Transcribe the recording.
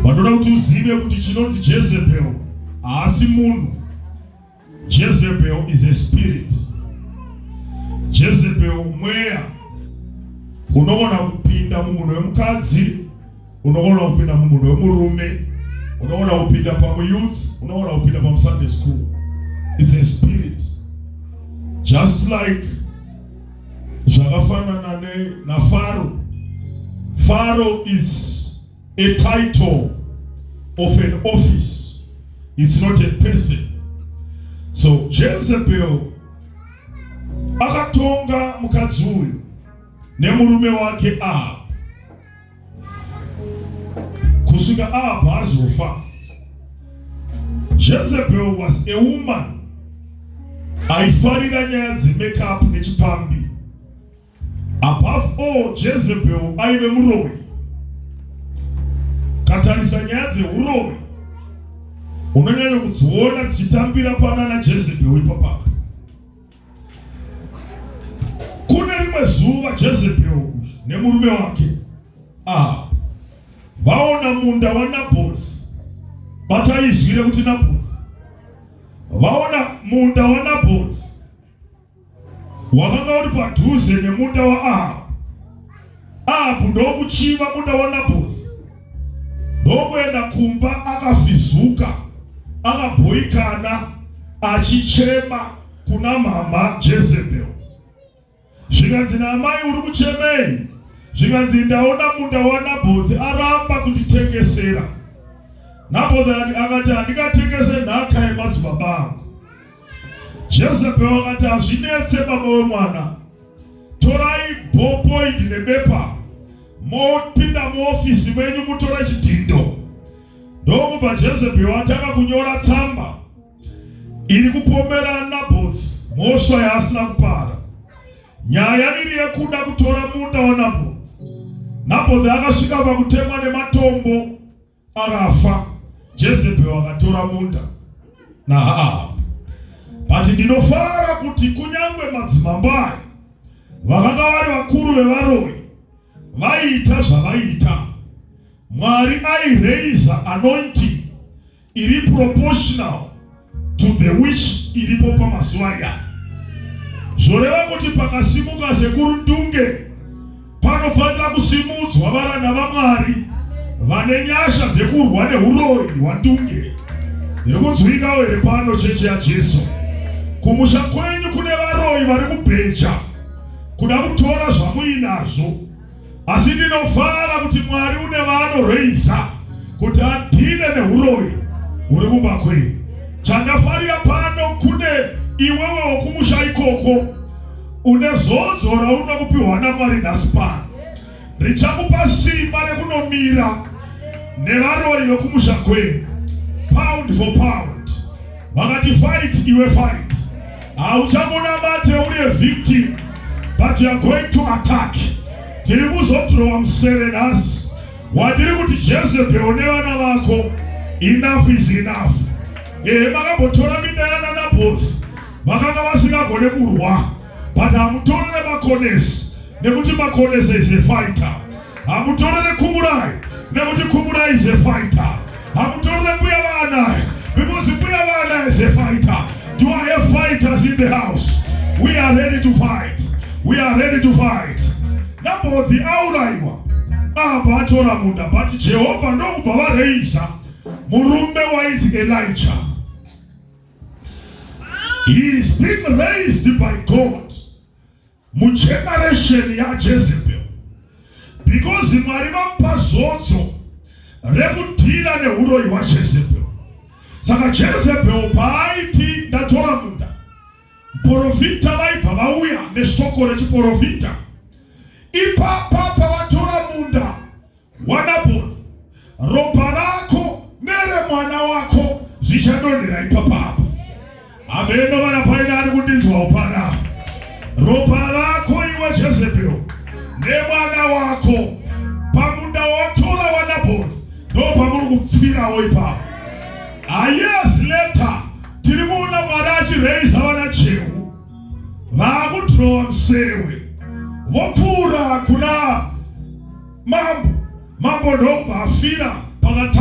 Vanoda kuti uzive kuti chinonzi Jezebel haasi munhu. Jezebel is a spirit. Jezebel mweya unogona kupinda mumunhu wemukadzi, unogona kupinda mumunhu wemurume, unogona kupinda pamuyouth, unogona kupinda pamusunday school. It's a spirit. Just like zvakafanana ne naFaro Faro is a title of an office it's not a person so Jezebel akatonga mukadzi uyu nemurume wake Ahab kusvika apa azofa jezebel was a woman aifarira nyaya dzemakeup nechipambi above all jezebel aive muroyi katarisa nyaya dzeuroyi unonyanya kudziona dzichitambira pana najezebel ipapapo Kune rimwe zuva Jezebel nemurume wake ah, vaona munda waNabhozi. Bata izwi rekuti Nabhozi. Vaona munda waNabhozi wakanga uri padhuze nemunda waAhabu. apo ndokuchiva kuda wanaboth ndokuenda kumba akafizuka akabhoikana achichema kuna mhamha jezebel zvikanzi naamai uri kuchemei zvikanzi ndaona munda wanabothi aramba kunditengesera nabothi akati handikatengese nhaka yemadzibaba angu jezebel akati hazvinetse baba wemwana torai ballpoint nebepa mopinda muofisi menyu mutora chidhindo ndokubva jezebheri watanga kunyora tsamba iri kupomera naboth mhosva yaasina kupara nyaya iri yekuda kutora munda wanaboth naboth akasvika pakutemwa nematombo Akafa Jezebel akatora munda naAhabu. But ndinofara kuti kunyangwe madzimambo aya vakanga vari vakuru vevaroyi vaiita zvavaiita. Mwari aireiza anointing iri proportional to the wish iripo pamazuva iya zvoreva kuti pakasimuka sekuru ndunge panofanira kusimudzwa varanda vamwari vane nyasha dzekurwa neuroyi hwandunge iri kunzwikawo here pano cheche yajesu kumusha kwenyu kune varoyi vari kubheja kuda kutora zvamuinazvo asi ndinofara kuti mwari une vaanoreisa kuti adhile neuroyi huri kumba kwenyu chandafarira pano kune iwewe wokumusha ikoko une zodzo raunoda kupiwa namwari nhasi pano richakupa simba rekunomira nevaroyi vekumusha kwenyu pound for pound vakati fight iwe fight hauchamunamate uri a victim but you are going to attack tiri kuzodhirowa museve nhasi wadiri kuti jezebhel nevana vako enough is enough ehe makambotora minda yana naboth vakanga vasingagone kurwa but hamutorere makonesi nekuti makonesi is a fighter Hamutorere Kumurai nekuti Kumurai is a fighter. Hamutorere Mbuya Vaanai because Mbuya Vaanai is a fighter. Do I have fighters in the house? We are ready to fight. We are ready to fight. Nabhodhi auraiwa apa atora munda but Jehovha ndokubva vareisa murume wainzi Elijah. He is being raised by God. mugeneration yaJezebel because Mwari vamupa zodzo rekudhira neuroyi hwaJezebel. Saka Jezebel paaiti ndatora munda, porofita vaibva vauya neshoko rechiporofita ipapa Wanaboni, ropa rako neremwana wako zvichandonhera ipapapo. Hameno vana paina ari kundinzwawo pana ropa rako iwe Jezebel nemwana wako pamunda watora wanaboni ndopamuri kupfirawo ipapo. Ayes ah, leta tiri kuona Mwari achiraiza vana Jehu vakudhirowa musewe vopfuura kuna mambo mambo ndokubva afira pakata